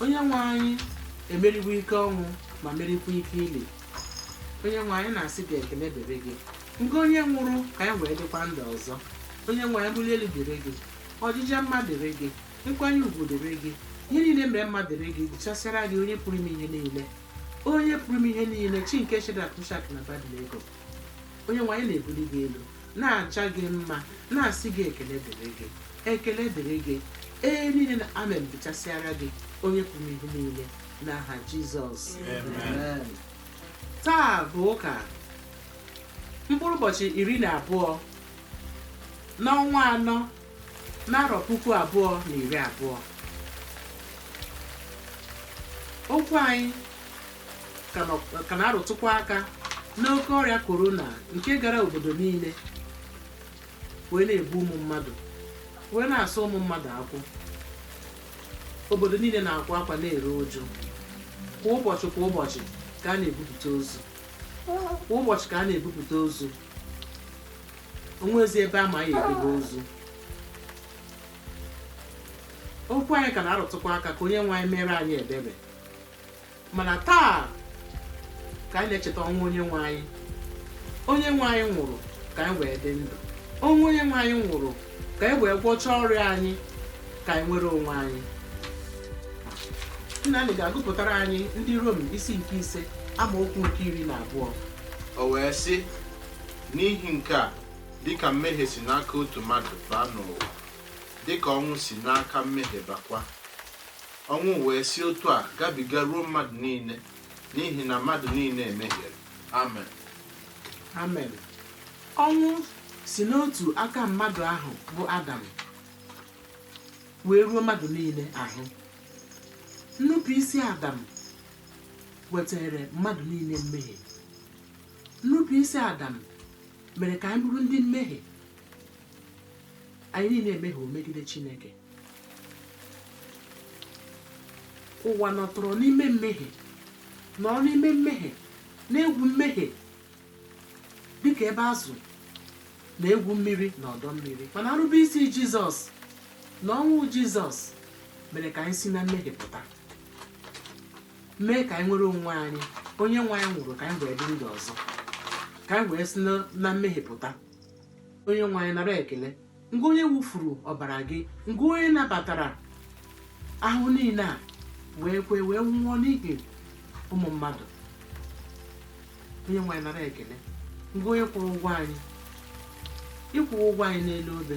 onye nwe anyị emeriwo ike ọnwụ ma merikwa ike ili onye nwe anyị na-asị gị ekele dịrị gị ngị onye nwụrụ ka anyị wee dịkwa ndụ ọzọ onye nwe anyị mbuli elu dịrị gị ọjịja mma dịrị gị nkwanye ugwu dịrị gị ihe niile mara mma dịrị gị dịchasịara gị onye pụrụ ime ihe niile onye pụrụ ime ihe niile chi nke shedrak mishak na abednego onye nwe anyị na-ebuli gị elu na-aja gị mma na-asị gị ekele dịrị gị ekele dịrị gị ee niile na amen dịchasịara gị onye pụrụ ime ihe niile n'aha jizọs Amen. taa bụ ụka mkpụrụ ụbọchị iri na abụọ n'ọnwa anọ n'arọ puku abụọ na iri abụọ okwu anyị ka nọ- ka na-arụtụkwa aka n'oke ọrịa korona nke gara obodo niile wee na-egbu ụmụ mmadụ wee na-asụ ụmụ mmadụ akwụ obodo niile na-akwa akwa na-eru uju kwa ụbọchị kwa ụbọchị ka a na-ebupụta ozu kwa ụbọchị ka a na-ebupụta ozu o nwezi ebe a ma ya edebe ozu okwu anyị ka na-arụtụkwa aka ka onye nwe anyị mere anyị ebere mana taa ka anyị na-echeta ọnwụ onye nwe anyị onye nwe anyị nwụrụ ka anyị wee dị ndụ ọnwụ onye nwe anyị nwụrụ ka anyị wee gwọchaa ọrịa anyị ka anyị nwere onwe anyị nna anyị ga-agụpụtara anyị ndị rom isi nke ise amaokwu nke iri na abụọ o wee sị n'ihi nke a dịka mmehie si n'aka otu mmadụ baa n'ụwa dịka ọnwụ si n'aka mmehie bakwa ọnwụ wee si otu a gabiga ruo mmadụ niile n'ihi na mmadụ niile mehiere amen amen ọnwụ si n'otu aka mmadụ ahụ bụ adam wee ruo mmadụ niile ahụ nnupụisi adam wetara mmadụ niile mmehie nnupụisi adam mere ka anyị bụrụ ndị mmehie anyị niile emehie megide chineke ụwa nọtọrọ n'ime mmehie nọ n'ime mmehie na-egwu mmehie dịka ebe azụ na-egwu mmiri na ọdọ mmiri mana nrube isi jizọs na ọnwụ jizọs mere ka anyị si na mmehie pụta mee ka anyị nwere onwe anyị onye nwe anyị nwụrụ ka anyị wee dị ndụ ọzọ ka anyị wee si na mmehie pụta onye nwe anyị nara ekele ngị onye wụfuru ọbara gị ngị onye nabatara ahụhụ niile a wee kwe wee nwụọ n'ihi ụmụ mmadụ onye nwe anyị nara ekele ngị onye kwụrụ ụgwọ anyị ị kwụrụ ụgwọ anyị n'elu obe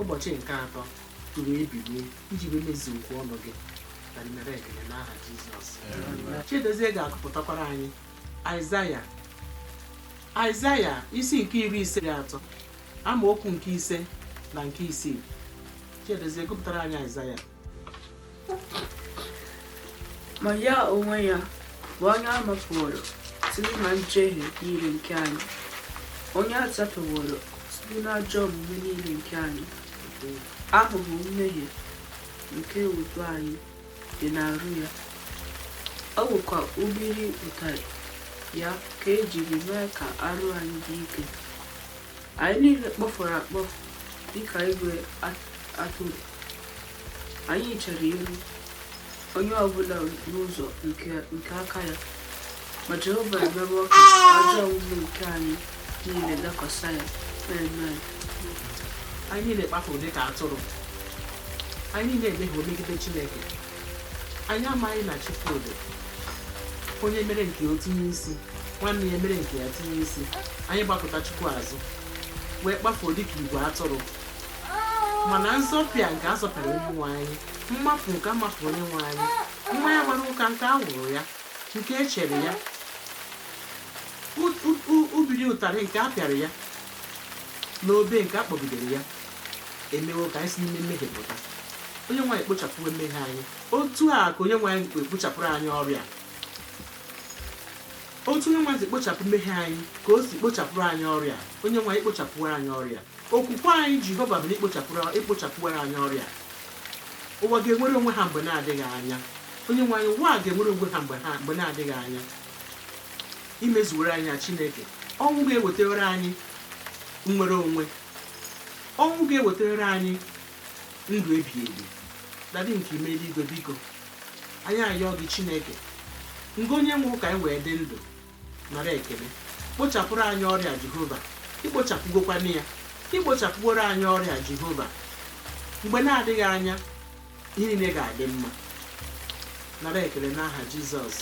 ụbọchị nke atọ tụrụ ebilie iji wee mezuo okwu ọnụ gị nara ekele n'aha jizọs chidozie ga-agụpụtakwara anyị aịzaya aịzaya isi nke iri ise na atọ amaokwu nke ise na nke isii chidozie gụpụtara anyị aịzaya ma ya onwe ya bụ onye a mapuworo site na njehie niile nke anyị onye a zọpịaworo site na ajọ omume niile nke anyị ahụhụ mmehie nke udo anyị dị n'arụ ya ọ bụkwa ubiri ụtarị ya ka ejiri mee ka arụ anyị dị ike anyị niile kpafuru akpafu dịka igwe atụrụ anyị chere iru onye ọbụla n'ụzọ nke aka ya ma jehova emewo ka ajọ omume nke anyị niile dakwasa ya amen anyị niile kpafuru dịka atụrụ anyị niile emehie megide chineke anyị amaghị na chukwu dị onye mere nke o tinye isi nwanne ya mere nke ya tinye isi anyị gbakụta chukwu azụ wee kpafuo dịka igwe atụrụ mana nzọpịa nke azọpịara onye nwe anyị mmapu nke amapuru onye nwe anyị mmanya gbara ụka nke a wụrụ ya nke e chere ya ubiri ụtarị nke a pịara ya n'obe nke a kpọgidere ya emewo ka anyị si n'ime mmehie pụta onye nwe anyị kpochapụwo mmehie anyị otu a ka onye nwe anyị kpochapụrụ anyị ọrịa otu onye nwe anyị si kpochapụ mmehie anyị ka o si kpochapụrụ anyị ọrịa onye nwe anyị kpochapụrụ anyị ọrịa Okwukwe anyị Jehova bụ na ikpochapụrụ- ikpochapụwara anyị ọrịa a. Ụwa ga-enwere onwe ha mgbe na-adịghị anya. Onyenwe anyị, ụwa a ga-enwere onwe ha mgbe na-adịghị anya. Imezuwere anyị ya Chineke. Ọnwụ gị ewetewere anyị nnwere onwe. Ọnwụ gị ewetewere anyị ndụ ebighị ebi. Dadị nke ime eluigwe biko, anyị ayọọ gị Chineke. Ngị onye nwụrụ ka anyị wee dị ndụ. nara ekele kpochapụrụ anyị ọrịa jehova ikpochapụgokwana ya ikpochapụworo anyị ọrịa jehova mgbe na-adịghị anya ihe niile ga-adị mma nara ekele n'aha jizọs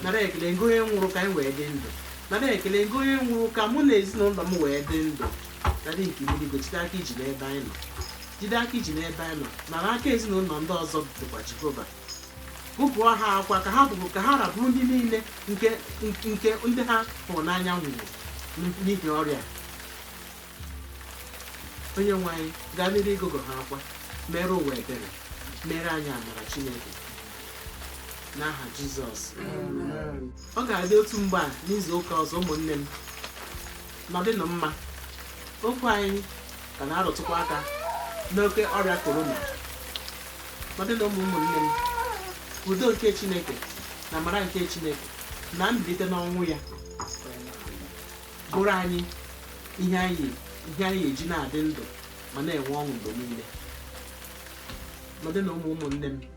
nara ekele ngị onye nwụrụ ka anyị wee dị ndụ nara ekele ngị onye nwụrụ ka mụ na ezinụlọ m wee dị ndụ dadị nke ime eluigwe jide aka iji n'ebe anyị nọ jide aka iji n'ebe anyị nọ nara aka ezinụlọ ndị ọzọ dịkwa jehova gụgụọ ha akwa ka ha bụrụ ka ha ra bụrụ ndị niile nke ndị ha hụrụ n'anya nwụrụ n'ihi ọrịa onye nwe anyị gaa n'iru ịgụgụ ha akwa mere ụwa ebere mere anyị amara chineke n'aha jizọs ọ ga-adị otu mgbe a n'izu ụka ọzọ ụmụnne m nọdịnụ mma okwu anyị ka na-arụtụkwa aka n'oke ọrịa korona nọdịnụ mma ụmụnne m udo nke chineke na amara nke chineke na mbilite n'ọnwụ ya bụrụ anyị ihe anyị eji na-adị ndụ ma na-enwe ọṅụ mgbe niile nọdịnụ mma ụmụnne m